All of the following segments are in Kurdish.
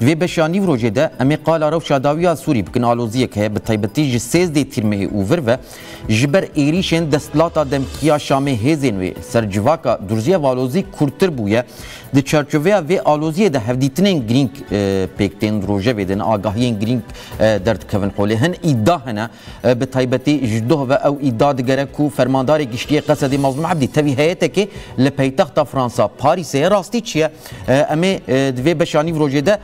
Di vê beşa nîvrojê de em ê qala rewşa dawî ya Sûrî bikin aloziyek heye bi taybetî ji sêzdeh tîrmehê û vir ve ji ber êrîşên desthilata demkî ya Şamê hêzên wê ser civaka durzî ev alozî kûrtir bûye. Di çarçoveya vê aloziyê de hevdîtinên girîng pêk tên rojevê din agahiyên girîng derdikevin holê hin îda hene bi taybetî ji doh ve ew îda digere ku fermandarê giştî yê Qesedê Mazlûm Ebdî tevî heyetekê li peytexta Fransa Parîsê ye rastî çi ye? Em ê di vê beşa nîvrojê de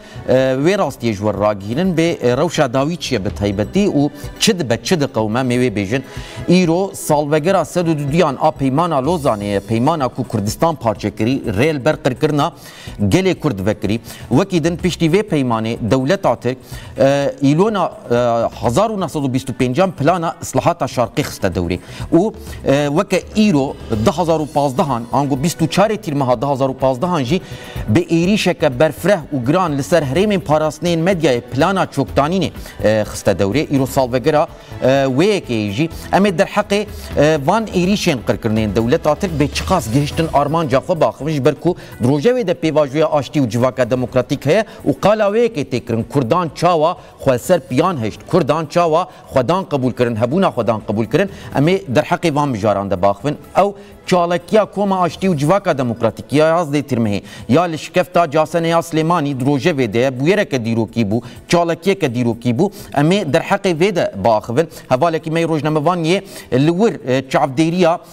wê rastiyê ji we ragihînin bê rewşa dawî çi ye bi taybetî û çi dibe çi diqewime em ê wê bêjin. Îro salvegera sed û du duyan a Peymana Lozanê ye, peymana ku Kurdistan parçe kirî rê li ber qirkirina gelê Kurd vekirî. Wekî din piştî vê peymanê dewleta Tirk îlona hezar û neh sed û bîst û pênc an plana islahata şarqê xiste dewrê. û weke îro du hezar û pazdeh an ango bîst û çarê tîrmeha du hezar û pazdeh an jî bi êrîşeke berfireh û giran li ser herêmên parastinên medyayê plana çoktanînê xiste dewrê. Îro salvegera wê yekeyê jî em ê derheqê van êrîşên qirkirinên dewleta Tirk bê çiqas gihiştin armanca xwe biaxivin ji ber ku di rojevê de pêvajoya aştî û civaka demokratîk heye û qala wê yekê tê kirin kurdan çawa Xweserp yan hişt, Kurdan çawa xwedan qebûl kirin, hebûna xwedan qebûl kirin, em ê derheqê van mijaran de baxivin. Ew çalakiya Koma Aştî û Civaka Demokratîkî ya yazdeh Tirmehê ya li şikefta Casenê ya Silêmanî di rojevê de ye, bûyereke dîrokî bû, çalakiyeke dîrokî bû. Em ê derheqê vê de biaxivin. Hevalekî me yê rojnamevan yê li wir çavdêriya.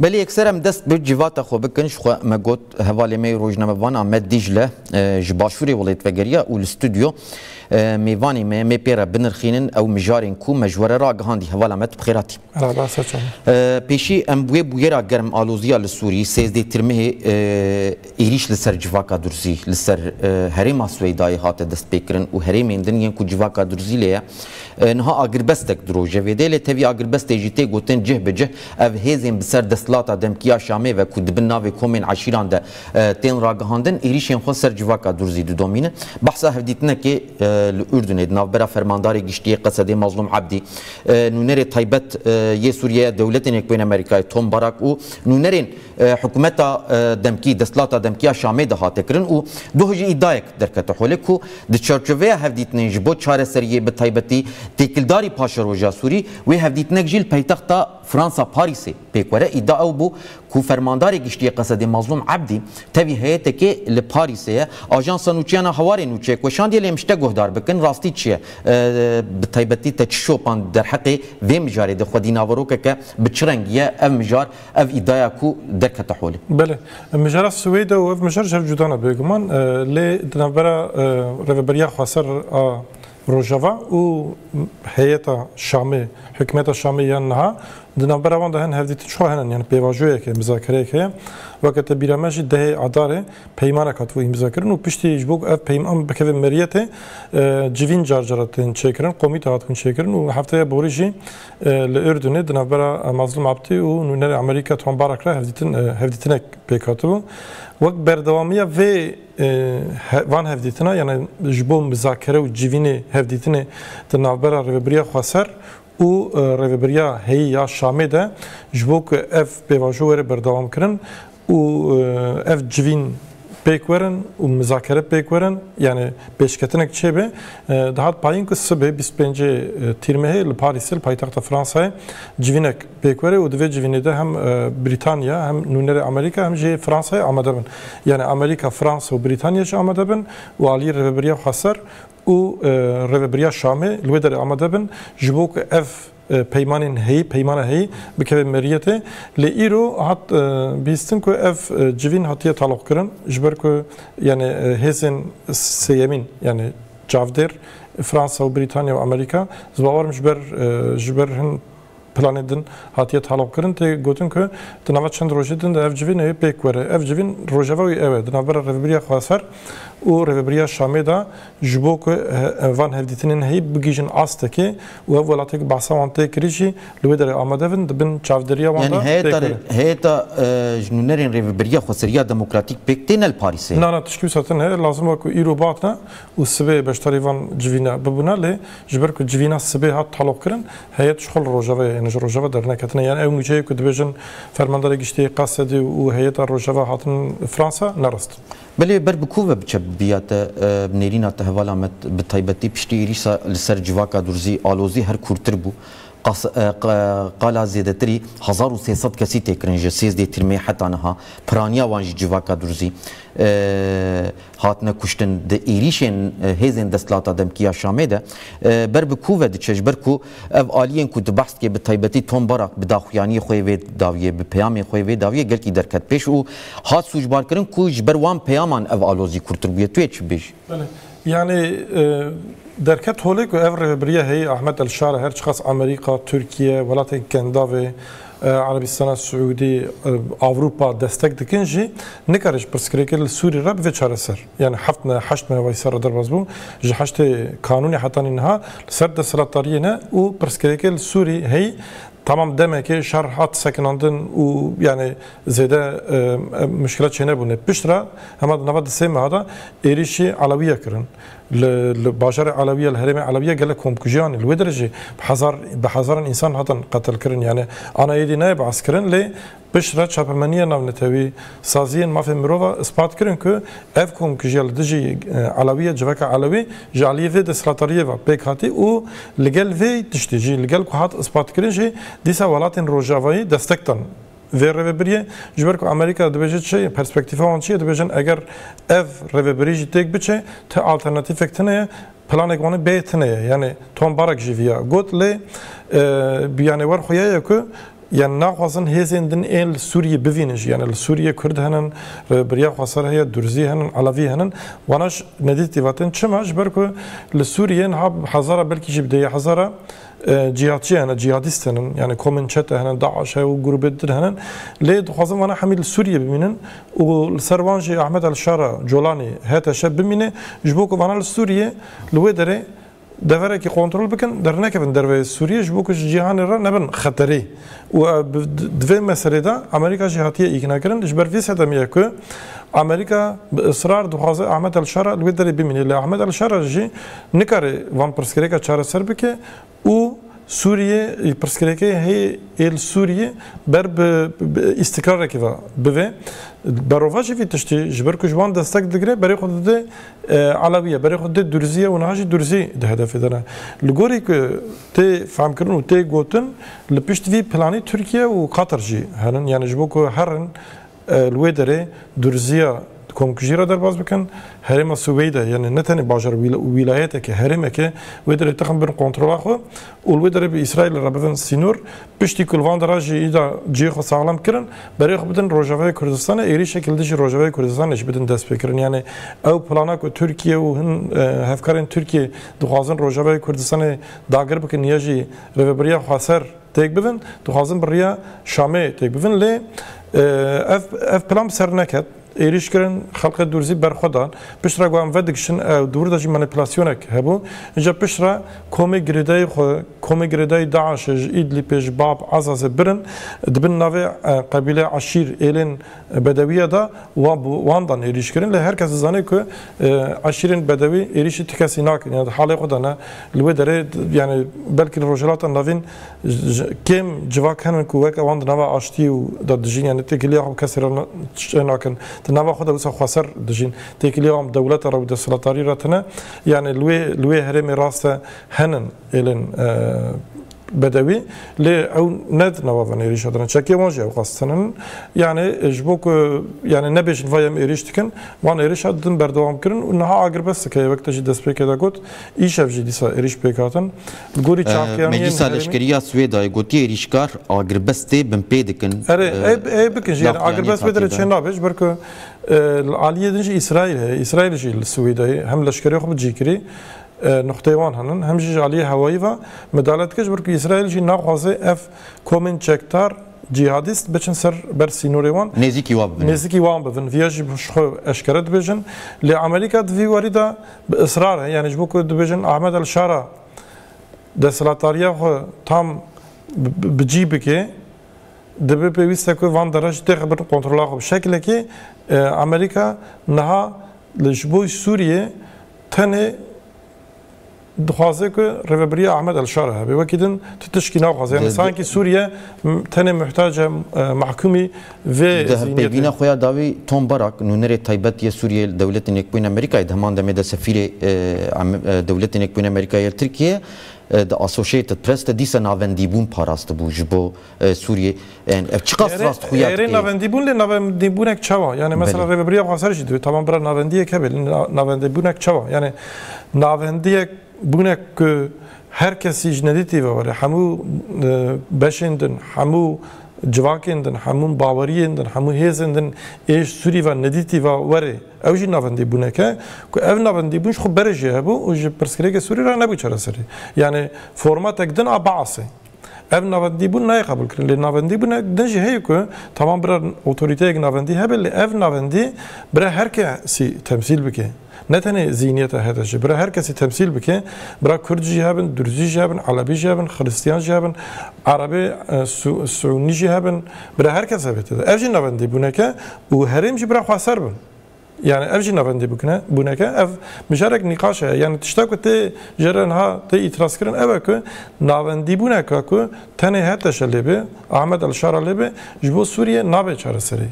Belê yekser em dest bi civata xwe bikin ji xwe me got hevalê me yê rojnamevan Amed Dîcle ji başûrê welêt vegeriya û li stûdyo mêvanê me mê pê re binirxînin ew mijarên ku me ji we re ragihandî hevala me tu bi xêr hatî. Pêşî em bi wê bûyera germ aloziya li Sûrî sêzdê tirmihê Êrîş li ser civaka Durzî li ser herêma Swêydayê hate destpêkirin û herêmên din yên ku civaka Durzî lê ye niha agirbestek di rojevê de lê tevî agirbestê jî tê gotin cih bi cih ev hêzên bi ser desthilata demkî ya Şamê ve ku di bin navê komên eşîran de tên ragihandin êrîşên xwe ser civaka Durzî didomînin. Behsa hevdîtinekê li Urdunê di navbera fermandarê giştî yê Qesedê Mazlûm Ebdî, nûnerê taybet yê Sûriyeyê dewletên Yekbûyên Amerîkayê Tom Barak û nûnerên Hikûmeta demkî, desthilata demkî ya Şamê de hate kirin û goh jî îdayek derkete holê ku di çarçoveya hevdîtinên ji bo çareseriyê bi taybetî têkildarî paşeroja Sûrî, wê hevdîtinek jî li paytexta Fransa Parîsê pêk were. Îda ew bû ku Fermandarê Giştî yê Qesedê Mazlûm Ebdî tevî heyeteke li Parîsê ye. Ajansa nûçeyan a Hawarê nûçeyek weşandiye lê em ji te guhdar bikin rastî çi ye? Bi taybetî te çi şopan derheqê vê mijarê de xwedî naverokeke bi çi rengî ye? Ev mijar Ev îdaya ku derkete holê. Belê. Mijara Swêde û ev mijar ji hev cuda ne bêguman. Lê di navbera Rêveberiya Xweser a Rojava û heyeta Şamê, hikûmeta Şamê yên niha, di navbera wan de hin hevdîtin çawa hene yani pêvajoyek heye, mizakereyek heye. Weke te bîra me jî dehê Adarê peymanek hatibû îmzakirin û piştî ji bo ku ev peyman bikeve meriyetê civîn car cara tên çêkirin, komîte hatibûn çêkirin û heftaya borî jî Li Urdunê di navbera Mazlum Abdi û nûnerê Amerîka Tom Barak re hevdîtinek pêk hatibû. Wek berdewamiya vê van hevdîtina yanê ji bo mizakere û civînê hevdîtinê di navbera Rêvebiriya Xweser û Rêvebiriya heyî ya Şamê de ji bo ku ev pêvajo were berdewamkirin, û ev civîn pêk werin û mizakere pêk werin yanî pêşketinek çêbe dihat payîn ku sibê bîst û pêncê tîrmehê li Parîsê li paytexta Fransayê civînek pêk were û di vê civînê de hem Brîtanya hem nûnerê Amerîka hem jî Fransayê amade bin. Yanî Amerîka, Fransa û Brîtanya jî amade bin û aliyê Rêveberiya Xweser û Rêveberiya Şamê li wê derê amade bin ji bo ku ev peymanên heyî, peymana heyî bikeve meriyetê. Lê îro hat bîstin ku ev civîn hatiye taloqkirin ji ber ku yanê hêzên sêyemîn yanê çavdêr Fransa û Brîtanya û Amerîka ez bawer im ji ber ji ber hin planê din hatiye taloqkirin tê gotin ku di nava çend rojê din de ev civîn ê pêk were. Ev civîn rojeva wî ew e di navbera Rêvebiriya Xweser û Rêvebiriya Şamê de Ji bo ku van hevdîtinên heyî bigihîjin astekê û ev welateke behsa wan tê kirî jî li wê derê amade bin, di bin çavdêriya wan de tê kirin. Heyeta ji nûnerên Rêveberiya Xweseriya Demokratîk pêk tê ne li Parîsê? Na, na, tiştî wisa tune heye, lazim e ku îro bihatine û sibê beşdarî van civîna bibûne, lê ji ber ku civîna sibê hat taloqkirin, heyet ji xwe li rojeveyê yê, ne ji rojeva derneketine. Yan ew nûçeyê ku dibêjin Fermandara Giştî yê Qasedi û heyeta rojeva hatinin Fransa ne rast in. Belê ber bi ku ve biçe bi biya te bi nêrîna te hevala me bi taybetî piştî êrîşa li ser civaka durzî alozî her kûrtir bû. Qala zêdetirî hezar û sê sed kesî tê kirin ji sêzdeh tirmê heta niha piraniya wan jî civaka durzî hatine kuştin di êrîşên hêzên desthilata demkî ya Şamê de ber bi ku ve diçe ji ber ku Ev aliyên ku tu behs dikê bi taybetî Tom Barak bi daxuyaniyê xwe yê vê dawiyê, bi peyamê xwe yê vê dawiyê gelkî derket pêş û hat sûcbarkirin ku ji ber wan peyaman ev alozî kûrtir bûye. Tu yê çi bibêjî? Belê. Yanî derket holê ku ev rêvebiriya heyî Ahmet El Şara her çiqas Amerîka, Tirkiye, welatên Kendavê, Erebîstana Siûdî, Ewropa destek dikin jî, nikare ji pirsgirêkê li Sûrî re bive çareser. Yan heft me, heşt me wayî ser re derbas bû. Ji heştê kanûnê heta nî niha li ser desthilatdariyê ne û pirsgirêkê li Sûrî heyî temam demekê şer hat sekinandin û yanê zêde muşkilat çênebûne. Pişt re hema di nava di sê meha de êrîşî Elewiye kirin. Li li bajarê Elewiye li herêmê Elewiye gelek komkujî anî. Li wê derê jî bi hezar bi hezaran însan hatin qetilkirin. Yanê ana êdî nayê behs kirin lê Pişt re çapemeniyên navnetewî, saziyên mafên mirov a ispat kirin ku ev komkujiya li dijî Elewî ya civaka Elewî ji aliyê vê desthilatariyê ve pêk hatî û li gel vê tiştî jî li gel ku hat ispatkirin jî dîsa welatên rojavayî destek dan vê rêvebiriyê ji ber ku Amerîka dibêje çi ye, perspektîfa wan çi ye dibêjin eger ev rêvebirî jî têk biçe ti alternatîfek tune ye planêk wan bê tune ye yanî Tom Barrack jî vî ya got lê bîyanewer xuya ye ku Yan naxwazin hêzên din ên li Sûriyê bivînin jî. Yanê li Sûriyê Kurd henin, Birya Xweser heye, Durzî henin, Elevî henin. Wana ji nedît dîvatin. Çima? Ji ber ku li Sûriyê niha bi hezara belkî jî bi dêya hezara cîhatçî hene, cîhadîst henin. Yanê komên çete henin, DAIŞ heye û grûbên din henin. Lê dixwazin wana hemî li Sûriyê bimînin û li ser wan jî Ahmed El-Şara, Colanî, HTŞ bimîne ji bo ku wana li Sûriyê li wê derê deverekî kontrol bikin, dernekevin derveyê Sûriyê ji bo ku ji cîhanê re nebin xeterê û di vê meselê de Amerîka jî hatiye îknakirin. Ji ber vê sedemê ye ku Amerîka bi israr dixwaze Ahmed el-Şara li wê derê bimîne lê Ahmed el-Şara jî nikare van pirsgirêka çareser bike û Sûriyê pirsgirêkê hê ê li Sûriyê ber bi îstikrarekê ve bive. Berovajî vî tiştî ji ber ku ji wan destek digire berê xwe dide Elewi ye, berê xwe dê Durzî ye û niha jî Durzî di hedefê de ne. Li gorî ku tê fehmkirin û tê gotin li pişt vî planî Tirkiye û Qatar jî henin yanî ji bo ku herin li wê derê Durziya komkujî re derbas bikin. Herêma Suweyde yanî ne tenê bajar û wîlayeteke herêmeke wê derê tixin bin kontrola xwe û li wê derê bi Îsraîlê re bibin sînor, piştî ku li van de re jî îda cihê xwe saxlem kirin, berê xwe bidin Rojavayê Kurdistanê, êrîşek li dijî Rojavayê Kurdistanê jî bidin destpêkirin. Yanî ew plana ku Tirkiye û hin hevkarên Tirkiyê dixwazin Rojavayê Kurdistanê dagir bikin ya jî rêveberiya xweser têk bibin, dixwazin bi riya Şamê têk bibin. Lê ev ev plan bi ser neket. Êrîş kirin, xelkê Dûrzî berxwe dan. Piştre ku em vedigişin ew di wir de jî manîpülasyonek hebû. Îca piştre komê girêdayî xwe, komê girêdayî DAIŞ'ê ji Îdlîpê, ji Bab, Azazê birin, di bin navê qebîle, eşîr, êlên bedewîye de wan bi wan dan êrîş kirin. Lê her kes dizane ku eşîrên bedewî êrîşî ti kesî nakin. Yanî di halê xwe de ne. Li wê derê yanî belkî li Rojhilata Navîn Kêm civak hene ku weke wan di nava aştiyê û de dijîn yanî têkiliya xwe bi kesê re çê nakin. Di nava xwe de wisa xweser dijîn. Têkiliya wan bi dewlete re û desthilatdarî re tune. Yanî li wê li wê herêmê rast e henin êlên bedewî lê ew ne di nava vê êrîşa de ne. Çekê wan jî ew qas tune ne. Yanî ji bo ku yanî nebêjin vay em êrîş dikin wan êrîşa din berdewam kirin û niha agirbesteke ye wek te jî destpêkê de got îşev jî dîsa êrîş pêk hatin. Meclîsa Leşkerî ya Swêdayê gotiye êrîşkar agirbestê binpê dikin. Erê ê bikin jî agirbest wê derê çê nabe ji ber ku li aliyê din jî Îsraîl heye. Îsraîl jî li Swêdayê hem leşkerê xwe bi cî kirî nuqteyê wan hene hem jî ji aliyê hewayî ve midale dike ji ber ku Îsraîl jî naxwaze ev komên çekdar cîhadîst biçin ser ber sînorê wan nêzîkî wan bibin. Vîya jî ji xwe eşkere dibêjin. Lê Amerîka di vî warî de Bi israr e, yanî ji bo ku dibêjin Ahmed El Şara desthilatdariya xwe tam bi cî bike, dibe pêwîst e ku van dere jî têxe bin kontrola xwe. Bi şekilekê Amerîka niha li ji bo Sûriyê tenê dixwaze ku rêvebiriya Ahmed El Şara hebe. Wekî din tu tişkî naxwaze. Yanî sankî Sûriye tenê muhtace mehkûmî Di hevpeyvîna xwe ya dawî Tom Barak, nûnerê taybet yê Sûriyeyê li Dewletên Yekbûyîn Amerîkayê di heman demê de sefîrê Dewletên Yekbûyîn Amerîkayê li Tirkiyeyê di Associated Press de dîsa navendîbûn parastibû ji bo Sûriyeyê. Yan ev çiqas rastxuya dike? Erê navendîbûn lê navendîbûnek çawa? Yanê mesela Rêveberiya xwe ser jî divê tamam bira navendiyek hebe lê navendîbûnek çawa? Yanê navendiyek bûne ku Her kesî ji nedîtî ve were, hemû beşên din, hemû civakên din, hemû baweriyên din, hemû hêzên din ê ji Sûrî ve nedîtî ve were. Ew jî navendîbûnek e ku ev navendîbûn ji xwe berê jê hebû û ji pirsgirêkê Sûrî re nebû çareserî. Yanî formatek din a Baasê. Ev navendîbûn nayê qebûlkirin. Lê navendîbûne din jî heye ku tamam bira otorîteyek navendî hebe lê ev navendî bira her kesî temsîl bike. Ne tenê zînîyeta HDJ'ê, bira her kesî temsîl bike. Bira kurd jî hebin, durzî jî hebin, elebî jî hebin, xirîstîyan jî hebin, erebê sûnî jî hebin. Bira her kes hebe tede. Ev jî navendîbûneke û herêm jî bira xweser bin. Yani ev jî ne rindî bikine bûneke ev mijarek nîqaş e yani tişta ku tê ji re niha tê îtiraz kirin ew e ku navendîbûneka ku tenê HTŞ lê bê Ahmed El Şara lê bê ji bo Sûriyê nabe çareserî.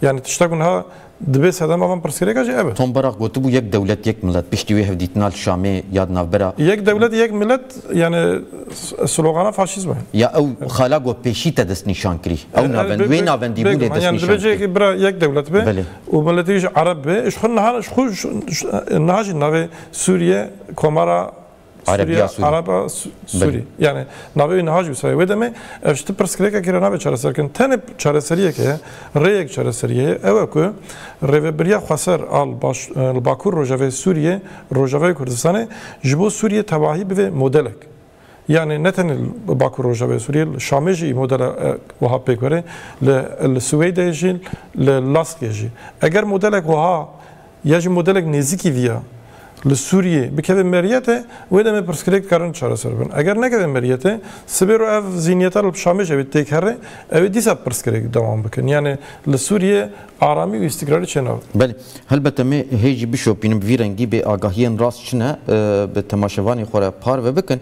Yani tişta ku niha dibê sedema van pirsgirêka jî ev e. Tom Barak gotibû yek dewlet yek milet piştî wê hevdîtina li Şamê ya di navbera. Yek dewlet yek milet yani slogana faşîzm e. Ya ew xala ku pêşî te destnîşan kirî ew navend wê navendîbûnê destnîşan kirî. Bêgûman yani dibe cihekê bira yek dewlet be Û miletê jî ereb be, ji xwe niha ji xwe niha jî navê Sûriye Komara Sûriya Ereba Sûrî yanî navê wî niha jî wisa ye. Wê demê ev ji ti pirsgirêkekê re nabe çareserkirin. Tenê çareseriyek heye, rêyek çareseriyê ye. Ew e ku rêvebiriya xweser a li Bakur Rojavayê Sûriyê, Rojavayê Kurdistanê ji bo Sûriyê tevahî bibe modelek. Yanî ne tenê li Bakur Rojavayê Sûriyê li Şamê jî modela wiha pêk were, li Siwêydê jî li Laskê jî. Eger modelek wiha ya jî modelek nêzîkî viya li Sûriyê bikeve meriyetê wê demê pirsgirêk dikarin çareser bibin. Eger nekeve meriyetê sibê ro ev zîniyeta li Şamê jî ew ê têk here ew ê dîsa pirsgirêk dewam bikin. Yanî li Sûriyê Aramî û îstiqrarî çê nav. Belê. Helbete me hê jî bişopînin bi vî rengî bê agahiyên rast çi ne bi temaşevanê xwe re parve bikin.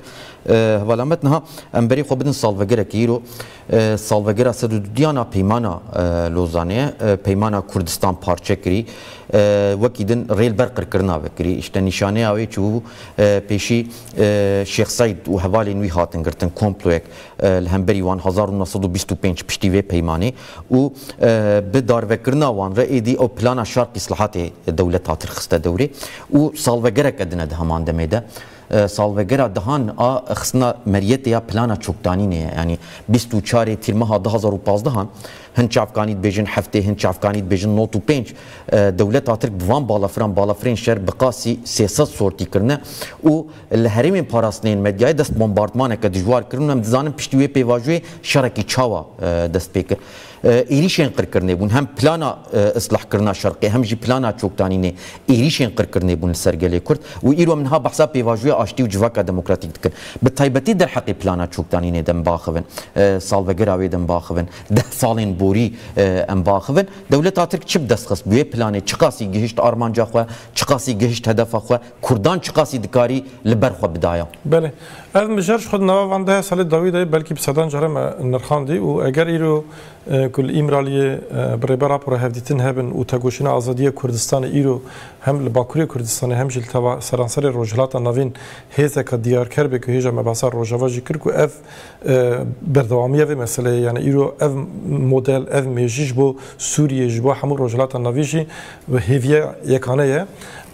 Heval Amed niha em berê xwe bidin salvegerekê. Îro salvegera sed û dudiyan a Peymana Lozanê ye. Peymana Kurdistan parçe kirî. Wekî din rê li ber qirkirina ve kirî. Îşte nîşaneya wê çi bû? Pêşî Şêx Seîd û hevalên wî hatin girtin komployek li hemberî wan hezar û neh sed û bîst û pênc piştî vê peymanê. û bi darvekirina wan re êdî ew plana şark îslahatê dewlet hatir xiste dewrê û salvegereke din e di heman demê de. Salvegera dihan a xistina meriyetê ya plana çokdanînê ye. Yanî bîst û çarê tîrmeha du hezar û pazdeh an hin çavkanî dibêjin heftê, hin çavkanî dibêjin nod û pênc. Dewleta Tirk bi van balafiran balafirên şer bi qasî sê sed sortî kirine û Li herêmên parastinê yên medyayê dest bombardmaneke dijwar kirin û em dizanin piştî wê pêvajoyê şerekî çawa dest pê kir. Êrîşên qirkirinê bûn hem plana islahkirina Şerqê hem jî plana çoktanînê. Êrîşên qirkirinê bûn li ser gelê Kurd û îro em niha behsa pêvajoya aştî û civaka demokratîk dikin. Bi taybetî derheqê plana çoktanînê de em biaxivin. Salvegera wê de em biaxivin. Deh salên borî em biaxivin. Dewleta Tirk çi bi dest xist? Bi wê planê çiqasî gihişt armanca xwe? Çiqasî gihişt hedefa xwe? Kurdan çiqasî dikarî li ber xwe bidaya? Belê. Ev mijar ji xwe di nava van deha salê dawî de belkî bi sedan caran me nirxandî û eger îro ku li Îmraliyê bi rêber rapora hevdîtin hebin û tegoşîna azadiyê Kurdistanê îro hem li Bakurê Kurdistanê hem jî li seranserê Rojhilata Navîn hêzeka diyarker bê ku hêja mebasa Rojava jî kir ku ev Berdewamiya vê meseleyê yani îro ev model ev mêjî ji bo Sûriyê ji bo hemû Rojhilata Navî jî hêviya yekane ye.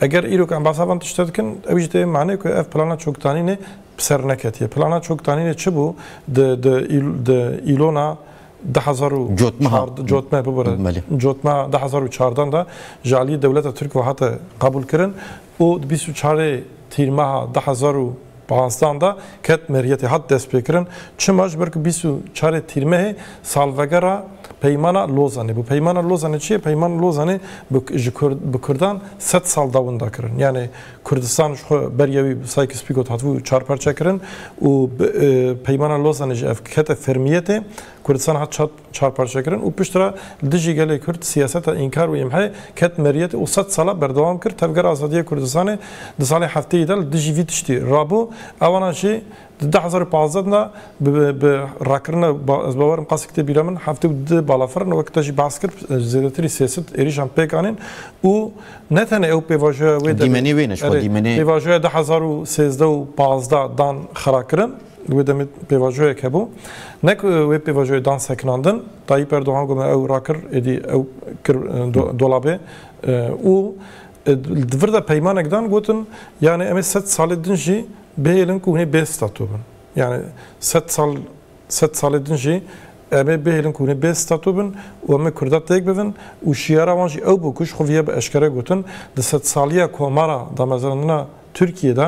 Eger îro ku em behsa van tiştan dikin ew jî tê manê ku ev plana çoktanînê bi ser neketiye. Plana çoktanînê çi bû di di di îlona du hezar û cotme bibire cotme du hezar û çardan de ji aliyê dewleta Tirk ve hate qebûl kirin û di bîst û çarê tîrmeha du hezar û Pansdan de ket meriyetê hat destpêkirin çima ji ber ku bîst û çarê Tîrmehê salvegera Peymana Lozanê bû. Peymana Lozanê çi ye? Peymana Lozanê bi ji bi Kurdan sed sal da winda kirin. Yanê Kurdistan ji xwe beriya wî bi Sykes Picot hatibû çar parçekirin û bi Peymana Lozanê jî ev kete fermiyetê. Kurdistan hat çar çarparçekirin û piştre li dijî gelê Kurd siyaseta înkar û îmhê ket meriyetê û sed sala berdewam kir Tevgera Azadiyê Kurdistanê di salê hefteyê de li dijî vî tiştî rabû ewana jî di du hezar û pazdeh de bi rakirina ez bawer im qasî kitêbî re min heftê û du balafir in wek te jî behs kir zêdetirî sêsit êrîşan pêk anîn û ne tenê ew pêvajoya wê de dîmenê wê ne ji xwe dîmenê pêvajoya du hezar û sêzdeh û pazdeh dan xirakirin. Di wê demê pêvajoyek hebû. Ne ku wê pêvajoyê dan sekinandin. Tayyîp Erdogan got me ew rakir, êdî ew kir dolabê û di vir de peymanek dan gotin yanê em ê sed salê din jî bihêlin ku hûn ê bê stato bin. Yanê sed sal sed salê din jî em ê bihêlin ku hûn ê bê stato bin û em ê Kurda têk bivin û şiyara wan jî ew bû ku ji xwe vî ya bi eşkere gotin di sedsalîya komara damezrandina Tirkiyê de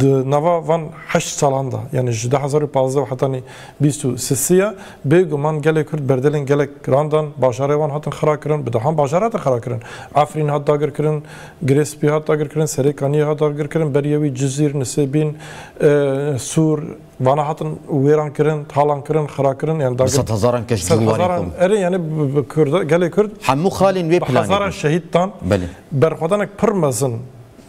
Di nava van heşt salan de, yanî ji du hezar û pazdeh û hetanî bîst û sisiya, bêguman gelê Kurd berdelên gelek giran dan, bajarê wan hatin xirakirin, bi dehan bajar hatin xirakirin. Efrîn hat dagirkirin, Girê Spî hat dagirkirin, Serê Kaniyê hat dagirkirin, beriye wî Cizîr, Nisêbîn, Sûr, vana hatin wêrankirin, talankirin, xirakirin, yanî dagir. Bi sedhezaran keş cû û warê xwe. Erê, yanî gelê Kurd. Hemû xalên wê planê bûn. Bi hezaran şehîd dan. Belê. Berxwedanek pir mezin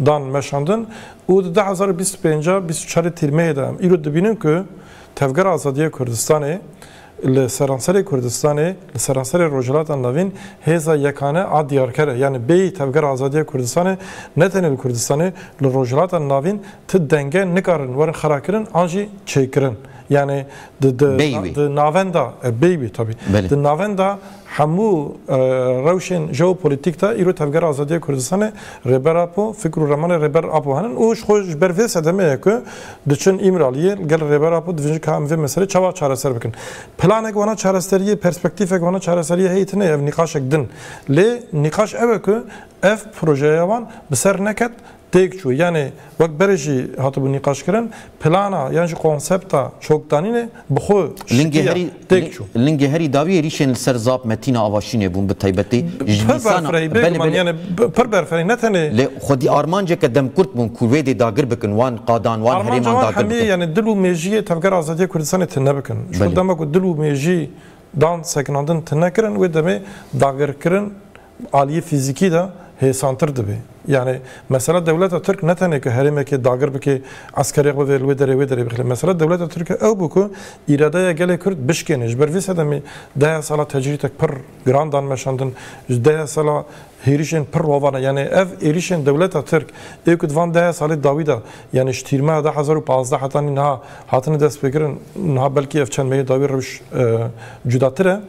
dan meşandin û di du hezar û bîst û pênc a bîst û çarê Tîrmeyê de em îro dibînin ku Tevgera Azadiya Kurdistanê li seranserê Kurdistanê, li seranserê Rojhilata Navîn hêza yekane a diyarker e. Yanî bêyî Tevgera Azadiya Kurdistanê ne tenê li Kurdistanê, li Rojhilata Navîn ti denge nikarin werin xerakirin an jî çêkirin. Yanî di di di navenda, bêyî wî tabî, di navenda Hemû rewşên jeopolîtîk de îro Tevgera Azadiya Kurdistanê, Rêber Apo, fikr û ramanê Rêber Apo henin û ji xwe ji ber vê sedemê ye ku diçin Îmraliyê li gel Rêber Apo dibêjin ka em vê meselê çawa çareser bikin. Planek wana çareseriyê, perspektîfek wana çareseriyê heyî tune ye, ev nîqaşek din. Lê nîqaş ew e ku ev projeya wan bi ser neket têk çû yanê wek berê jî hatibû nîqaşkirin plana yan jî konsepta çokdanînê bi xwe şikîya têk çû. Lingê herî dawî êrîşên li ser zap Metîna Avaşînê bûn bi taybetî ji nîsana pir berfireh ne tenê lê xwedî armanceke demkurt bûn ku wê dê dagir bikin wan qadan wan herêman dagir bikin. Yanê dil û mêjiyê Tevgera Azadiya Kurdistanê tune bikin. Ji bo dema ku dil û mêjî dan sekinandin tune kirin wê demê dagirkirin aliyê fîzîkî de hêsantir dibe. Yanî mesela dewleta Tirk ne tenê ku herêmekê dagir bike, eskerêx bibe li wê derê wê derê bixile. Mesela dewleta Tirk ew bû ku îradeya gelê Kurd bişkêne. Ji ber vê sedemê deha sala tecrîtek pir giran dan meşandin. Ji deha sala hêrişên pir rovan e. Yanî ev êrişên dewleta Tirk ê ku di van deha salê dawî de yanî ji tîrmeha du hezar û pazdeh heta niha hatine destpêkirin niha belkî ev çend meyê dawî rewş cudatir e.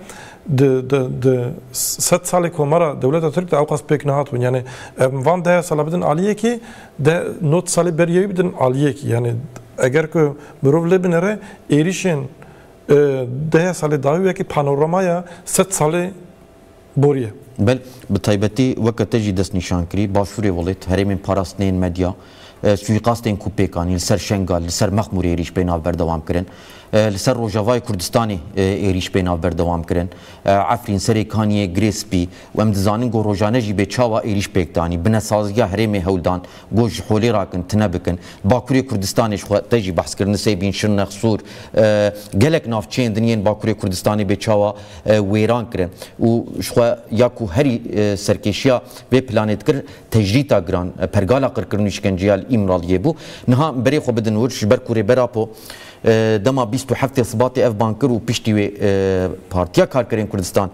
Di di di sed salê komara dewleta Tirk de ewqas pêk nehatibûn. Yani em van dehe sala bidin aliyekî de not salê beriye wî bidin aliyekî. Yani eger ku mirov lê binere êrîşên dehe salê dawî wekî panoramaya sed salê boriye. Bel, bi taybetî weke te jî destnîşan kirî, Başûrê Welêt, herêmên parastinê yên medya, Suîqastên ku pêkan yên li ser Şengal, li ser Mexmûrê êrîş pê navber dewam kirin. Li ser Rojavayê Kurdistanê êrîş pê navber dewam kirin. Efrîn, Serê Kaniyê, Girê Spî û em dizanin ku rojane jî bê çawa êrîş pêk danî. Binesaziya herêmê hewl dan ku ji holê re kin tune bikin. Bakurê Kurdistanê ji xwe te jî behs kir Nisêbîn, Şirnex, Sûr. Gelek navçeyên din yên Bakurê Kurdistanê bê çawa wêran kirin û ji xwe ya ku herî serkêşiya vê planê dikir, Tecrîta giran, pergala qirkirin û îşkenceya li Îmraliyê bû. Niha berê xwe bidin wir, ji ber ku Rêber Apo dema bîst û heftê Sibatê ev bang kir û piştî wê Partiya Karkerên Kurdistan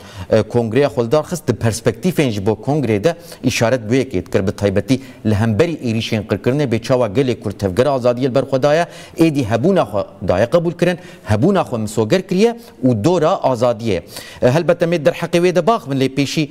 kongreya xwe li dar xist, di perspektîfên ji bo kongreyê de îşaret bi yekê dikir, bi taybetî li hemberî êrîşên qirkirinê bê çawa gelê Kurd tevgera azadiyê li ber xwe daye, êdî hebûna xwe daye qebûlkirin, hebûna xwe misoger kiriye û dora azadiyê ye. Helbet em ê derheqê wê de bax bin lê pêşî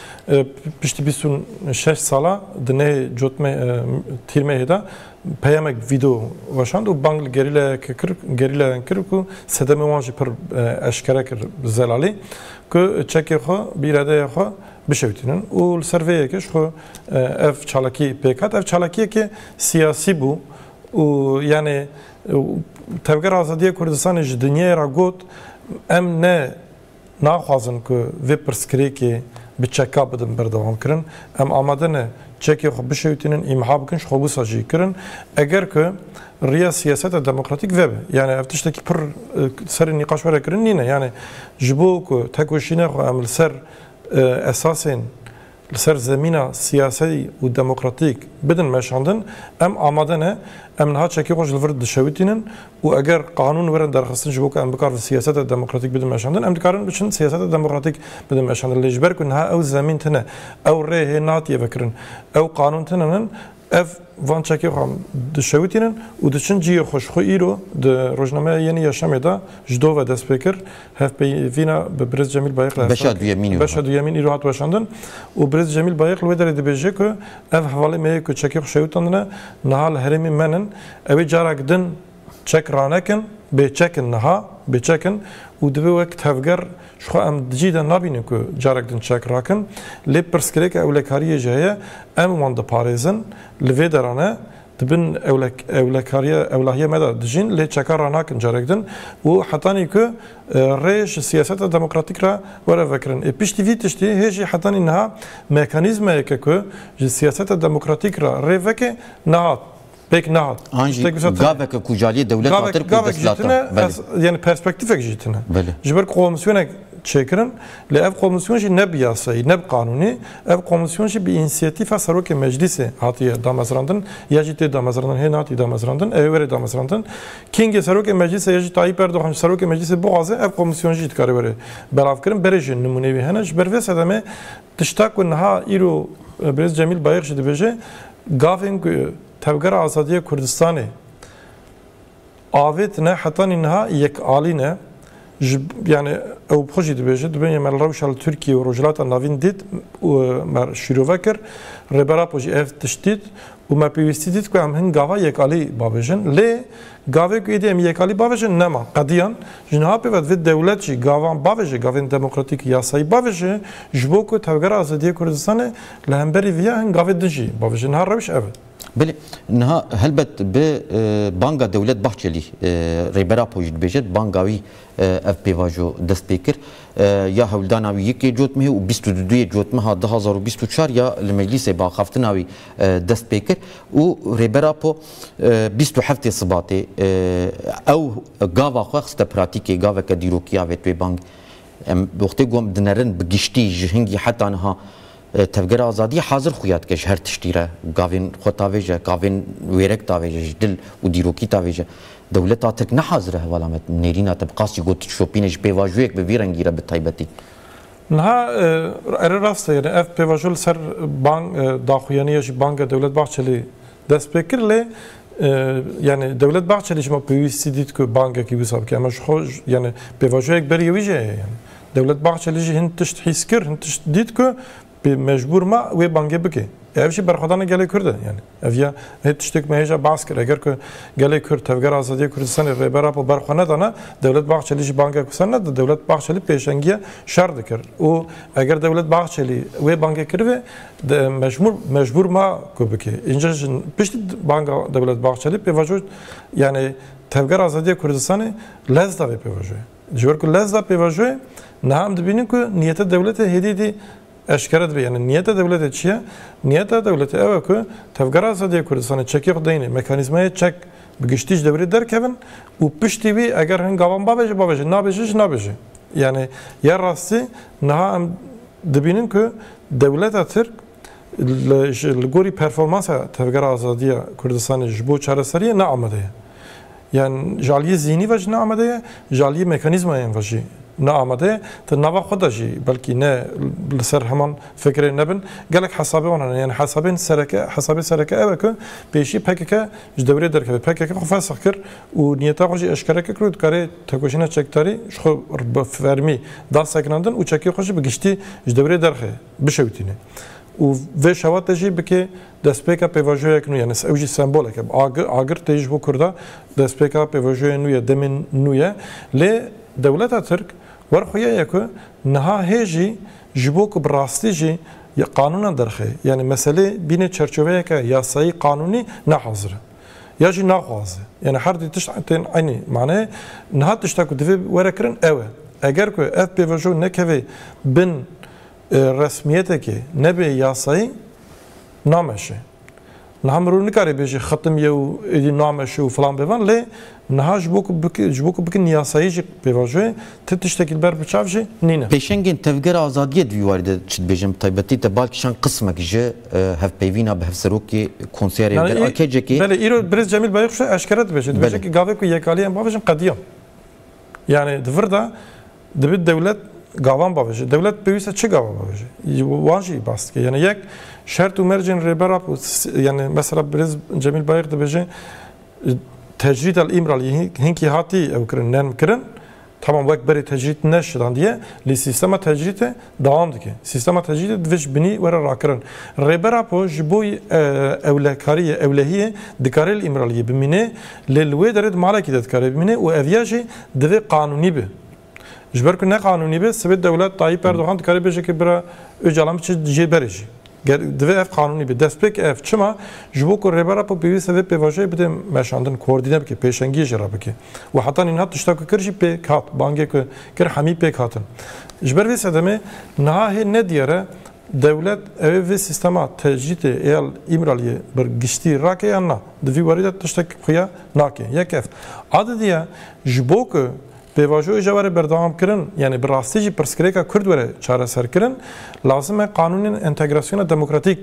Piştî bîst û şeş sala di nê cotmê tîrmeyê de peyamek vîdeo weşand û bang li gerîlayeke kir gerîlayan kir ku sedemê wan jî pir eşkere kir bi zelalî ku çekê xwe bi îradeyê xwe bişewitînin û li ser vê yekê ji xwe ev çalakî pêk hat. Ev çalakiyekê siyasî bû û yanê Tevgera Azadiya Kurdistanê ji dinyayê re got, em ne Naxwazin ku vê pirsgirêkê bi çeka bidin berdewamkirin. Em amade ne çekê xwe bişewitînin, îmha bikin ji xwe wisa jî kirin. Eger ku riya siyaseta demokratîk vebe, yanê ev tiştekî pir serê nîqaş were kirin nîne. Yanê ji bo ku tekoşîna xwe em li ser esasên, li ser zemîna siyasî û demokratîk bidin meşandin, em amade ne, em niha çekê xwe ji li vir dişewitînin û eger qanûn werin derxistin ji bo ku em bikar di siyaseta demokratîk bidin meşandin, em dikarin biçin siyaseta demokratîk bidin meşandin. Lê ji ber ku niha ew zemîn tune, ew rê hê natiye vekirin, ew qanûn tune nin, Ev van çekê xwe dişewitînin û diçin cihê xwe ji xwe îro di rojnameya Yenî Yaşamê de ji dove dest pê kir. Hevpeyvîna bi Birêz Cemîl Bayikl Beşa duyemîn îro Beşa duyemîn îro hat weşandin û Birêz Cemîl Bayikl wê derê dibêje ku ev hevalê me ye ku çekê xwe şewitandine niha li herêmê men in. Ew ê carek din Çek ranekin, bêçek in niha, bêçek in û divê wek tevger ji xwe em cî de nabînin ku carek din çek rakin, lê pirsgirêka ewlekariyê jî heye, em wan diparêzin, li vê derane di bin ewlekariya ewlahiya me de dijîn lê çeka ranakin carek din û hetanî ku rê ji siyaseta demokratîk re were vekirin. Ê piştî vî tiştî hê jî hetanî niha mekanîzmayeke ku ji siyaseta demokratîk re rê veke nehat. Pek ne. An jî gaveke ku jaliyê dewlet hatir ku destlatine. Yani perspektifek jî tine. Ji ber komisyonek çêkirin lê ev komisyon jî ne bi yasayî ne bi qanûnî ev komisyon jî bi însiyatîfa serokê meclîsê hatiye damezrandin ya jî tê damezrandin hê natiye damezrandin ê were damezrandin kîngê serokê meclîsê ya jî Tayyîp Erdogan serokê meclîsê bixwaze ev komisyon jî dikare were belavkirin berê jî nimûneyê wî hene ji ber vê sedemê Tişta ku niha îro Birêz Cemîl Bayix jî dibêje, gavên ku Tevgera Azadiya Kurdistanê avêtine hetanî niha yekalî ne. Ji yani ew bi xwe jî dibêje, dibêje me li rewşa li Tirkiye û Rojhilata Navîn dît û me şîrove kir. Rêber Apo jî ev tişt dît Û me pêwîstî dît ku em hin gava yekalî bavêjin. Lê gavê ku êdî em yekalî bavêjin nema. Qediyan, ji niha pê ve divê dewlet jî gavan bavêje, gavên demokratîk, yasayî bavêje ji bo ku Tevgera Azadiyê Kurdistanê li hemberî viya hin gavê din jî bavêje. Niha rewş ev e. Belê, niha helbet bi banga dewlet Bahçelî, Rêbera Apo jî dibêje, bi banga wî Ev pêvajo dest pê kir ya hewldana wî yekê cotmehê û bîst û du duyê cotmeha du hezar û bîst û çar ya li meclîsê bi axaftina wî dest pê kir û Rêber Apo bîst û heftê Sibatê ew gava xwe xiste pratîkê, gaveke dîrokiya vê twê bang. Em wextê got dinerin bi giştî ji hingî heta niha, Tevgera azadiyê hazir xuya dike ji her tiştî re. Gavên xwe tavêje, gavên wêrek tavêje, ji dil û dîrokî tavêje. Dewleta Tirk ne hazir e hevala me nêrîna te bi qasî got dişopîne ji pêvajoyek bi vî rengî re bi taybetî. Niha ere rast e yanî ev pêvajo li ser bang daxuyaniya jî banga Dewlet Bahçelî dest pê kir lê yanî Dewlet Bahçelî ji me pêwîstî dît ku bangekî wisa bike. Ema ji xwe yanî pêvajoyek berî wî jî heye yanî. Dewlet Bahçeli jî hin tişt hîs kir, hin tişt dît ku bi mecbûr ma wê bangê bike. Ev jî berxwedana gelê Kurd e. Yani ev ya hê tiştêk me hêja bas kir. Eger ku gelê Kurd Tevgera Azadiyê Kurdistanê Rêber Apo berxwe nedana, Dewlet Bahçeli jî bangek wisa neda. Dewlet Bahçeli pêşengiya şer dikir. Û eger Dewlet Bahçeli wê bangê kiribê di mecmûr mecbûr ma ku bike. Înca jî piştî banga Dewlet Bahçeli pêvajo yani Tevgera Azadiyê Kurdistanê lez da vê pêvajoyê. Ji ber ku lezza pêvajoyê niha em dibînin ku niyeta dewletê hêdî hêdî eşkere dibe. Yanî niyeta dewletê çi ye? Niyeta dewletê ew e ku Tevgera Azadî ya Kurdistanê çekê xwe deyne mekanîzmayê çek bi giştî ji dewrê derkevin û piştî wî eger hin gavan babêje babêje nabêje jî nabêje. Yanî ya rastî niha em dibînin ku dewleta Tirk li gorî performansa Tevgera Azadî ya Kurdistanê ji bo çareseriyê ne amade ye. Yan ji aliyê zîhnî ve jî ne amade ye, ji aliyê mekanîzmayên ve jî ne amade ye, di nava xwe de jî belkî ne li ser heman fikirê nebin. Gelek hesabê wan hene. Yan hesabên sereke, hesabê sereke ew e ku pêşî pkk ji dewirê derkeve. Pkk xwe fesex kir û niyeta xwe jî eşkere kir ku dikarê tekoşîna çekdarî ji xwe bi fermî da sekinandin û çekê xwe jî bi giştî ji dewirê derxe. bişewitîne û vê şeva te jî bike destpêka pêvajoyek nû ye nes ew jî sembolek e agir agir tê ji bo kurda destpêka pêvajoyê nû ye demên nû ye lê dewleta tirk wer xuya ye ku niha hê jî ji bo ku bi rastî jî ya qanûnan derxê yanî meselê bîne çerçoveyeke yasayî qanûnî ne hazir e ya jî naxwaze yanî her dî tişt tên enî maneyê niha tişta ku divê were kirin ew e eger ku ev pêvajo nekeve bin resmiyetekê nebê yasayî nameşe. Niha mirov nikare bêje xetim ye û êdî nameşe û filan bêvan lê niha ji bo ku bike ji bo ku bikin yasayî jî pêvajo ye ti tiştekî li ber biçav jî nîne. Pêşengên Tevgera Azadiyê di vî warî de çi dibêjin bi taybetî te bal kişand qismek ji hevpeyvîna bi hevserokê konseya rêvebera AKC'ê. Belê îro Birêz Cemîl Bayix jî eşkere dibêje. Dibêje ku gavê ku yekaliyan bavêjin qediyan. Yanî di vir de Dibi dewlet gavan bavêje. Dewlet pêwîste çi gava bavêje? Wan jî bas dike. Yani yek şert û mercên rêbera ku yani mesela Birêz Cemîl Bayix dibêje tecrîd el îmral hinkî hatî ew kirin, nerm kirin. Tamam wek berê tecrîd neşidandiye lê sîstema tecrîdê dewam dike. Sîstema tecrîdê divê ji binî were rakirin. Rêber Apo ji bo ewlekariyê, ewlehiyê dikare li Îmraliyê bimîne, lê li wê derê di malekî de dikare bimîne û ev ya jî divê qanûnî be. Ji ber ku ne qanûnî be, sibê dewlet Tayyîp Erdogan dikare bêje ke bira Ocalan biçe jê berê jî. Ger divê ev qanûnî be, destpêk ev çima? Ji bo ku Rêber Apo pêwîste vê pêvajoyê bide meşandin, koordîne bike, pêşengiyê jî re bike û heta nîna tişta ku kir jî pêk hat, bangê ku kir hemî pêk hatin. Ji ber vê sedemê niha hê ne diyar e dewlet ew ê vê sîstema tecrîtê ya li Îmraliyê bi giştî rake yan na. Di vî warî de tiştek xuya nake. Yek ev. A di diya ji bo ku Pêvajoyê ji were berdewamkirin, yanî bi rastî jî pirsgirêka Kurd were çareserkirin, lazim e qanûnên entegrasyona demokratîk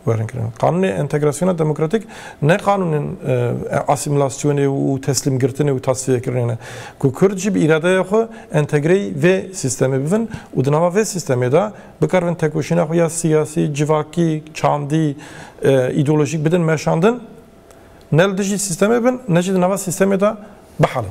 werin kirin. Qanûnê entegrasyona demokratîk ne qanûnên asîmîlasyonê û teslîmgirtinê û tasfîyekirinê ne. Ku Kurd jî bi îradeya xwe entegreyî vê sîstemê bibin û di nava vê sîstemê de bikaribin tekoşîna xwe ya siyasî, civakî, çandî, îdeolojîk bidin meşandin, ne li dijî sîstemê bin ne jî di nava sîstemê de bihelin.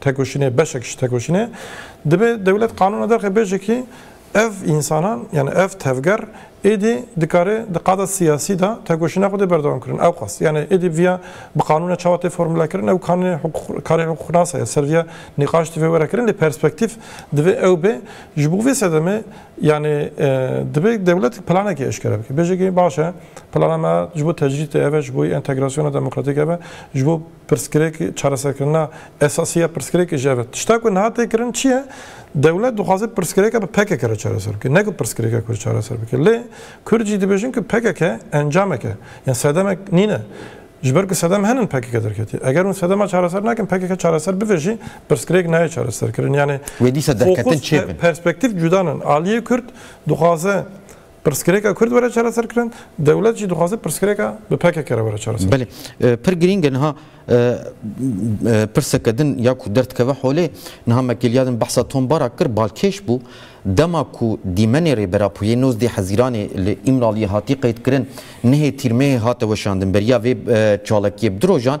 tekoşînê beşek ji tekoşînê dibe dewlet qanûna derxe bê jekî ev însanan yanî ev tevger êdî dikarê di qada siyasî de tekoşîna xwedê berdewam kirin ew xwest yanî êdî viya bi qanûna çawa tê formule kirin ew kanî karê huqûqnasa ye ser viya nîqaş divê were kirin lê perspektîf divê ew bê ji bo vê sedemê yanî dibe dewlet planekê eşkere bike bê jekî baş e plana me ji bo tecrîdê ev e ji bo entegrasyona demokratîk ev e ji bo Pirsgirêk, çareserkirina esasî ya pirsgirêkê ji ev e. Tişta ku niha tê kirin çi ye? Dewlet dixwaze pirsgirêka bi pkk re çareser bike, ne ku pirsgirêka Kurd çareser bike. Lê Kurd jî dibêjin ku pkk encamek e, yan sedemek nîne. Ji ber ku sedem henin pkk derketiye. Eger hûn sedema çareser nakin, pkk çareser bive jî pirsgirêk nayê çareserkirin. Yanî fokus, perspektîf cuda ne. Aliyê Kurd dixwaze. Pirsgirêka Kurd were çareserkirin, dewlet jî dixwaze pirsgirêka bi pkk re were çareser. Belê, pir girîng e niha pirseke din ya ku derdikeve holê, niha me kêliya din behsa Tom Barak kir, balkêş bû, dema ku Dîmenê Rêbera Puyê nozdeh Hezîranê li Îmraliyê hatî qeydkirin, nehê tîrmehê hate weşandin, beriya vê çalakiyê bi du rojan,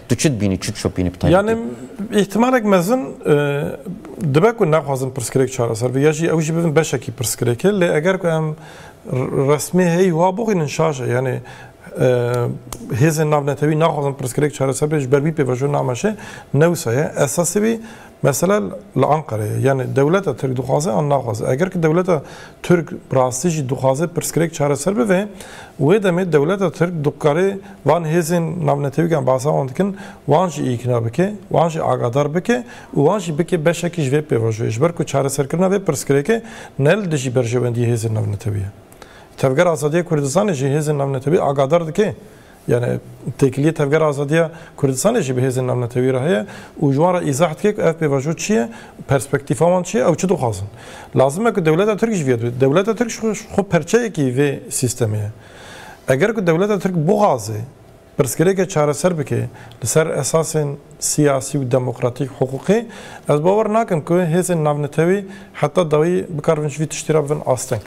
Tu çi dibînî, çi dişopînî bi taybetî? Yanî îhtimalek mezin dibe ku nexwazin pirsgirêk çareser be ya jî ew jî bibin beşekî pirsgirêkê lê eger ku em resmî heyî wa bixwînin şaş e yanî hêzên navnetewî naxwazin pirsgirêk çareser be ji ber wî pêvajo nameşê ne wisa ye esasî wî Mesele li Anqerê ye. Yanî dewleta Tirk dixwaze an naxwaze. Eger ki dewleta Tirk bi rastî jî dixwaze pirsgirêk çareser bibe, wê demê dewleta Tirk dikarê van hêzên navnetewîk em behsa wan dikin, wan jî îkna bike, wan jî agadar bike û wan jî bike beşekî ji vê pêvajoyê. Ji ber ku çareserkirina vê pirsgirêkê ne li dijî berjewendiyê hêzên navnetewî ye. Tevgera Azadiyê Kurdistanê jî hêzên navnetewî agadar dike. Yani têkiliyê Tevgera Azadiya Kurdistanê jî bi hêzên navnetewî re heye û ji wan re îzah dike ku ev pêvajo çi ye, perspektîfa wan çi ye, ew çi dixwazin. Lazim e ku dewleta Tirk ji vê re dibê. Dewleta Tirk ji xwe perçeyekî vê sîstemê ye. Eger ku dewleta Tirk bixwaze pirsgirêkê çareser bike li ser esasên siyasî û demokratîk, hiqûqî, ez bawer nakim ku hêzên navnetewî heta dawî bikar bibin ji vî tiştî re bibin asteng.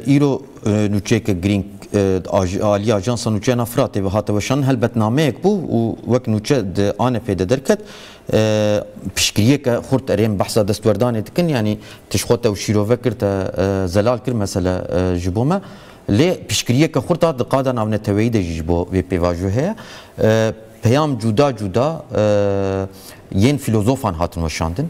Îro nûçeyeke girîng di aliyê Ajansa Nûçeyan a Firatê ve hate weşanin helbetnameyek bû û wek nûçe di ANF'ê de derket. Piştgiriyeke xurt erê em behsa destwerdanê dikin yanî tişt xwe te û şîrove kir te zelal kir mesele ji bo me lê piştgiriyeke xurt a di qada navneteweyî de jî ji bo vê pêvajoyê heye. Peyam cuda cuda yên fîlozofan hatin weşandin.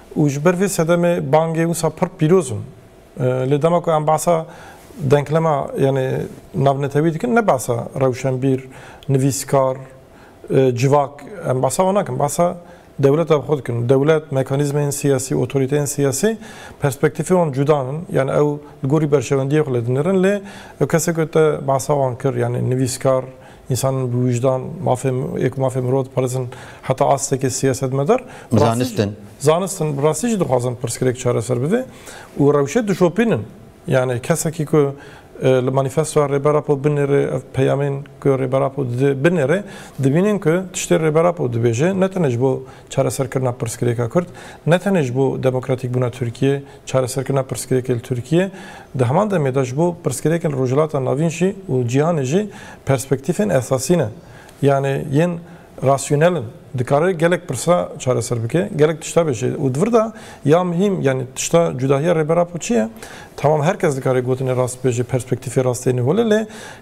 Û ji ber vê sedemê bangê wisa pir pîroz in. Lê dema ku em behsa denklema yanê navnetewî dikin ne behsa rewşenbîr, nivîskar, civak em behsa wan nakin. Behsa dewleta bi xwe dikin. Dewlet, mekanîzmeyên siyasî, otoriteyên siyasî perspektîfê wan cuda in. Yanê ew li gorî berjewendiyê xwe lê dinirin. Lê ew kesên ku te behsa wan kir yanê nivîskar, Însan bi wijdan mafê yê ku mafê mirov diparêzin heta astekê siyasetmedar, Zanistin. Zanistin bi rastî jî dixwazin pirsgirêk çareser bibe û rewşê dişopînin. Yanî kesekî ku li manîfestoya Rêber Apo binêrê ev peyamên ku Rêber Apo dide binêrê, dibînin ku tiştê Rêber Apo dibêje ne tenê ji bo çareserkirina pirsgirêka Kurd, ne tenê ji bo demokratîkbûna Tirkiyeyê, Çareserkirina pirsgirêkê li Tirkiyê, di heman demê de ji bo pirsgirêkên Rojhilata Navîn jî û cîhanê jî perspektîfên esasî ne. Yanê yên rasyonel in. Dikare gelek pirsa çareser bike, gelek tişta bêje. Û di vir de ya muhîm yanê tişta cudahiya Rêber Apo çi ye? Tamam her kes dikare gotinê rast bêje, perspektîfê rast têne hole lê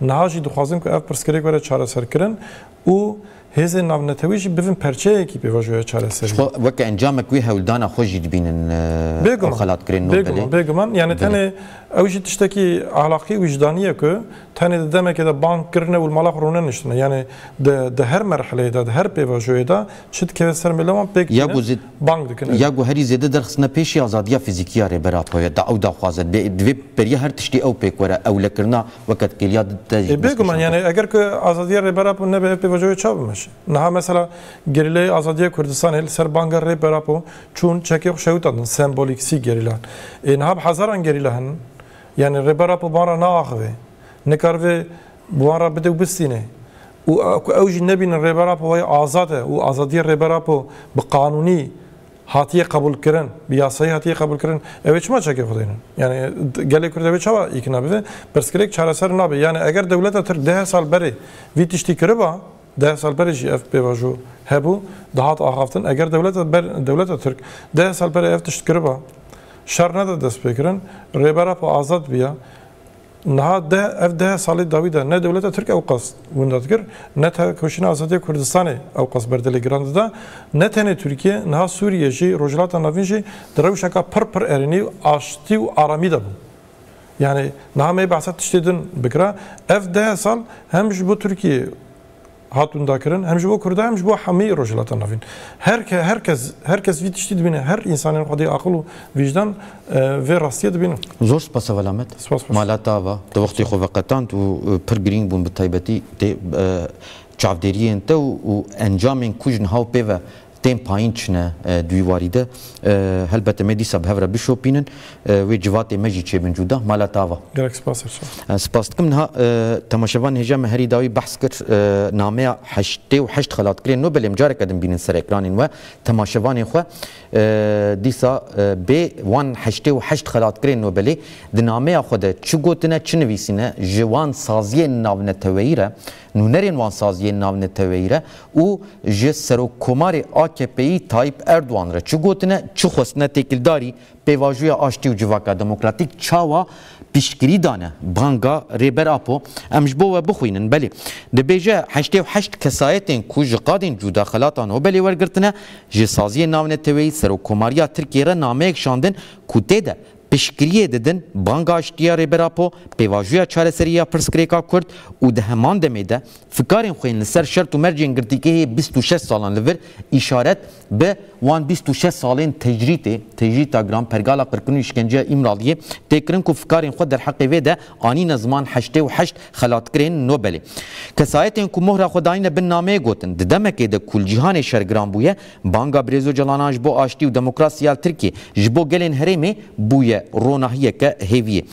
Niha jî dixwazin ku ev pirsgirêk were çareserkirin û hêzên navnetewî jî bivin perçeyekî pêvajoya çareseriyê. Jixwe weke encamek wê hewldana xwe jî dibînin ew xelatkirên Nobelê. Bêguman, bêguman. Yanî tenê ew jî tiştekî ahlaqî û wijdanî ye ku tenê di demekê de bang kirine û li mala xwe rûne niştine. Yanî di di her merhileyê de, di her pêvajoyê de çi dikeve ser mêle wan pêk tîne. bang dikin. Ya ku herî zêde derxistine pêşî azadiya fîzîkî ya Rêber Apo ye, ew daxwaze divê beriya her tiştî ew pêk were, ewlekirina weke têliya di te jî dest pêşand bike. Eger ku azadiya Rêber Apo nebe ev pêvajoyê çawa bimeşe? Niha mesela Gerîlayê Azadiya Kurdistanê li ser banga Rêber Apo çûn çekê xwe şewitandin sembolîksî gerîlan. Ê niha bi hezaran gerîla hene. Yanî Rêber Apo van re naaxive. Nikaribe bi wan re bide û bistîne û ku ew jî nebînin Rêber Apo wayî azad e û azadiyê Rêber Apo bi qanûnî hatiye qebûlkirin, bi yasayî hatiye qebûlkirin, ew ê çima çekê xwe daynin? Yanî gelê Kurd ew ê çawa îkna bibe? Pirsgirêk çareser nabe. Yanî eger dewleta Tirk deh sal berê vî tiştî kiriba, deh sal berê jî ev pêvajo hebû, dihat axaftin. Eger dewleta ber dewleta Tirk deh sal berê ev tişt kiriba, şer neda destpêkirin, Rêber Apo azad biya, Niha de ev deh salê dawî de ne dewleta Tirk ewqas winda dikir, ne tevkoşîna azadiya Kurdistanê ewqas berdilê giran dida. Ne tenê Tirkiye, niha Sûriye jî, Rojhilata Navîn jî di rewşeka pir pir erênî û aştî û aramî de bû. Yanî niha me behsa tiştê din bikira, ev deh sal hem ji bo Tirkiyeyê hat windakirin hem ji bo Kurdan hem ji bo hemî Rojhilata Navîn. Her ke her kes her kes vî tiştî dibîne, her însanên xwedê aqil û vîjdan vê rastiyê dibînin. Zor spas e Welamet. Mala te ava tu wextê xwe veqetand û pir girîng bûn bi taybetî tê çavdêriyên te û encamên ku jin haw pê ve tên payîn çine duywarî de. Helbete me dîsa bi hev re bişopînin, wê civatê me jî çêbin cuda. Mala tava. Gelek spas Efşan. Ez spas dikim. Niha temaşevan hêja me herî dawî behs kir nameya heştê û heşt xelatgirên nû belê em careke din bînin ser ekranên we temaşevanên xwe. Dîsa bê wan heştê û heşt xelatgirên nû belê di nameya xwe de çi gotine, çi nivîsîne, ji wan saziyên navneteweyî re Nûnerên wan saziyên navneteweyî re û ji Serokkomarê AKP'yî Tayyîp Erdogan re çi gotine, çi xwestine têkildarî pêvajoya aştî û civaka demokratîk çawa piştgirî dane. Banga Rêber Apo em ji bo we bixwînin. Belê. Dibêje heştê û heşt kesayetên ku ji qadên cûda xelata Nobelê wergirtine, ji saziyên navneteweyî Serokkomariya Tirkiyê re nameyek şandin ku tê de, Piştgiriyê didin banga Aştiya Rêber Apo, pêvajoya çareseriyê ya pirsgirêka Kurd û di heman demê de fikarên xwe yên li ser şert û mercên girtîgehê bîst û şeş salan li vir îşaret bi wan bîst û şeş salên tecrîtê, tecrîta giran, pergala qirkirin û îşkenceyê Îmraliyê, tê kirin ku fikarên xwe derheqê vê de anîne ziman heştê û heşt xelatkirên Nobelê. Kesayetên ku mohra xwe dayîne bin nameyê gotin, di demekê de ku li cîhanê şer giran bûye, Banga Birêz Ocalan'a ji bo aştî û demokrasî ya Tirkiyê ji bo gelên herêmê bûye ronahiyeke hêviyê.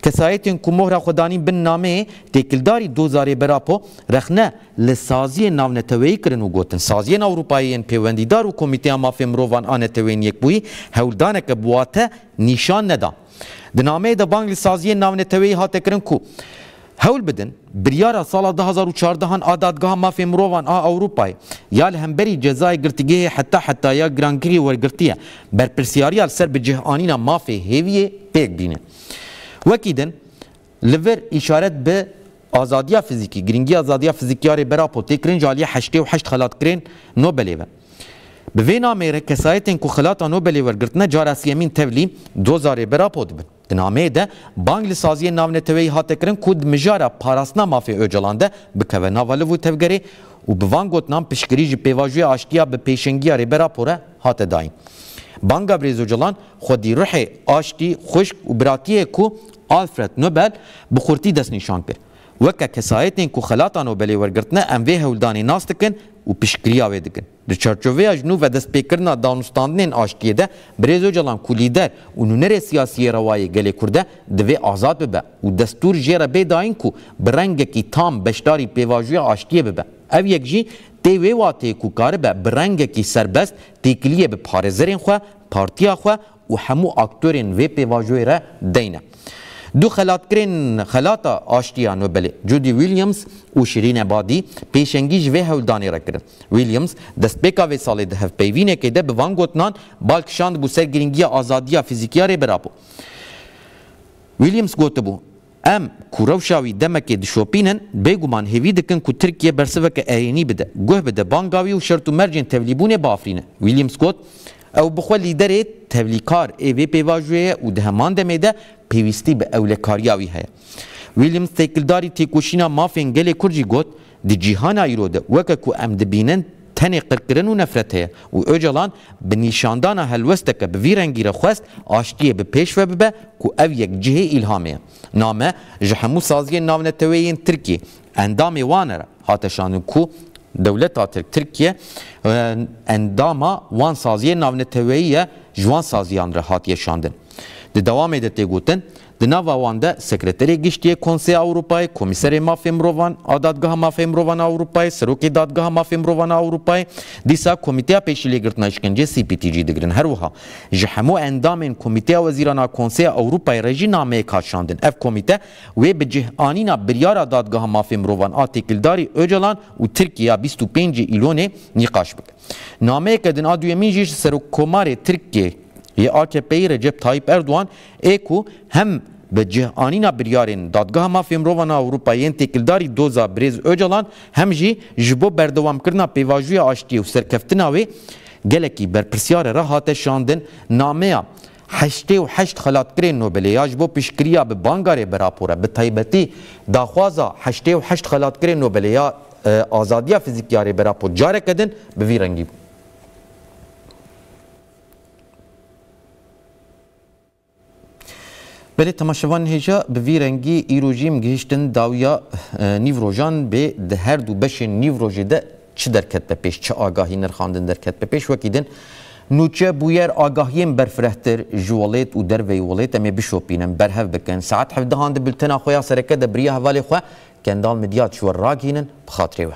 Kesayetên ku mohra xwe danîn bin nameyê têkildarî doza Rêber Apo rexne li saziyên navneteweyî kirin û gotin, Saziyên Ewropayî yên pêwendîdar û Komîteya Mafên Mirovan a Neteweyên Yekbûyî hewldaneke bi wate nîşan neda. Di nameyê de bang li saziyên navneteweyî hate kirin ku, Hewl bidin, biryara sala du hezar û çardeh an a Dadgeha Mafê Mirovan a Ewropayê ya li hemberî cezayê girtîgehê heta hetaya girankirî wergirtiye, berpirsyariya li ser bicihanîna mafê hêviyê pêk bîne. Wekî din, li vir îşaret bi azadiya fizîkî, girîngiya azadiya fizîkî ya Rêber Apo tê kirin ji aliyê heştê û heşt xelatkirên Nobelê ve. Bi vê nameyê re kesayetên ku xelata Nobelê wergirtine cara siyemîn tevlî doza Rêber Apo dibin. Di nameyê de bang li saziyên navneteweyî hate kirin ku di mijara parastina mafê Ocalan de bikeve nava liv û tevgerê û bi van gotinan piştgirî ji pêvajoya aştiya bi pêşengiya Rêber Apo re hate dayin. Banga Birêz Ocalan xwedî ruhê aştî, xwişk û biratiyê ku Alfred Nobel bi xurtî destnîşan kir. Weke kesayetên ku xelata Nobelê wergirtine em vê hewldanê nas dikin û piştgiriya wê dikin. Di çarçoveya ji nû vedestpêkirina danûstandinên aştiyê de Birêz Ocalan ku lîder û nûnerê siyasî yê rewayê gelê Kurd e divê azad bibe û destûr jê re bê dayîn ku bi rengekî tam beşdarî pêvajoya aştiyê bibe. Ev yek jî tê wê wateyê ku karibe bi rengekî serbest têkiliyê bi parêzerên xwe, partiya xwe û hemû aktörên vê pêvajoyê re deyn e. Du xelatkirên Xelata Aştiya Nobelê Judy Williams û Şirîn Ebadî pêşengî ji vê hewldanê re kirin. Williams destpêka vê salê di hevpeyvînekê de bi van gotinan bal kişandibû ser girîngiya azadiya fizîkiya Rêber Apo. Williams gotibû. Em ku rewşa wî demekê dişopînin, bêguman hêvî dikin ku Tirkiye bersiveke erênî bide, guh bide banga wî û şert û mercên tevlîbûnê biafrîne. William Scott, Ew bi xwe lîderê tevlîkar ê vê pêvajoyê ye û di heman demê de pêwîstî bi ewlekariya wî heye. Williams têkildarî têkoşîna mafên gelê Kurd jî got, Di cîhana îro de weke ku em dibînin tenê qirkirin û nefret heye û Ocalan bi nîşandana helwesteke bi vî rengî re xwest aştiyê bi pêş ve bibe ku ev yek cihê îlhamê ye. Name ji hemû saziyên navneteweyê yên Tirkiyê endamê wan re hate şandin ku dewleta Tirk Tirkiye endama wan saziyên navneteweyî ye ji wan saziyan re hatiye şandin. Di dewamê de tê gotin, Di nava wan de Sekreterê Giştî yê Konseya Ewropayê, Komîserê Mafê Mirovan a Dadgeha Mafê Mirovan a Ewropayê, Serokê Dadgeha Mafê Mirovan a Ewropayê, dîsa Komîteya Pêşîlêgirtina Îşkencê CPT jî digirin. Her wiha ji hemû endamên Komîteya Wezîran a Konseya Ewropayê re jî nameyek hat şandin. Ev komîte wê bi cih anîna biryara Dadgeha Mafê Mirovan a Têkildarî Ocalan û Tirkiyê ya bîst û pêncî Îlonê nîqaş bike. Nameyeke din a duyemîn jî ji Serokkomarê Tirkiyê yê AKP'ê Recep Tayyîp Erdogan ê ku hem bi cihanîna biryarên Dadgeha Mafê Mirovan a Ewropayê yên têkildarî doza Birêz Ocalan hem jî ji bo berdewamkirina pêvajoya aştiyê û serkeftina wê gelekî berpirsyare re hate şandin nameya Heştê û heşt Xelatkirên Nobelê ya ji bo piştgiriya bi banga rê bi rapor e bi taybetî daxwaza Heştê û heşt Xelatkirên Nobelê ya azadiya fizîkî ya rê bi rapor careke din bi vî rengî bû. Berê temaşevan hêja bi vî rengî îro jî em gihîştin dawiya nîvrojan bê di her du beşên nîvrojê de çi derket be pêş, çi agahî nirxandin derket be pêş. Wekî din nûçe, bûyer, agahiyên berfirehtir ji welêt û derveyî welêt em ê bişopînin, berhev bikin. Saet hevdehan di bultena xwe ya sereke de biriya hevalê xwe Kendal Midyat ji we ragihînin bi xatirê we.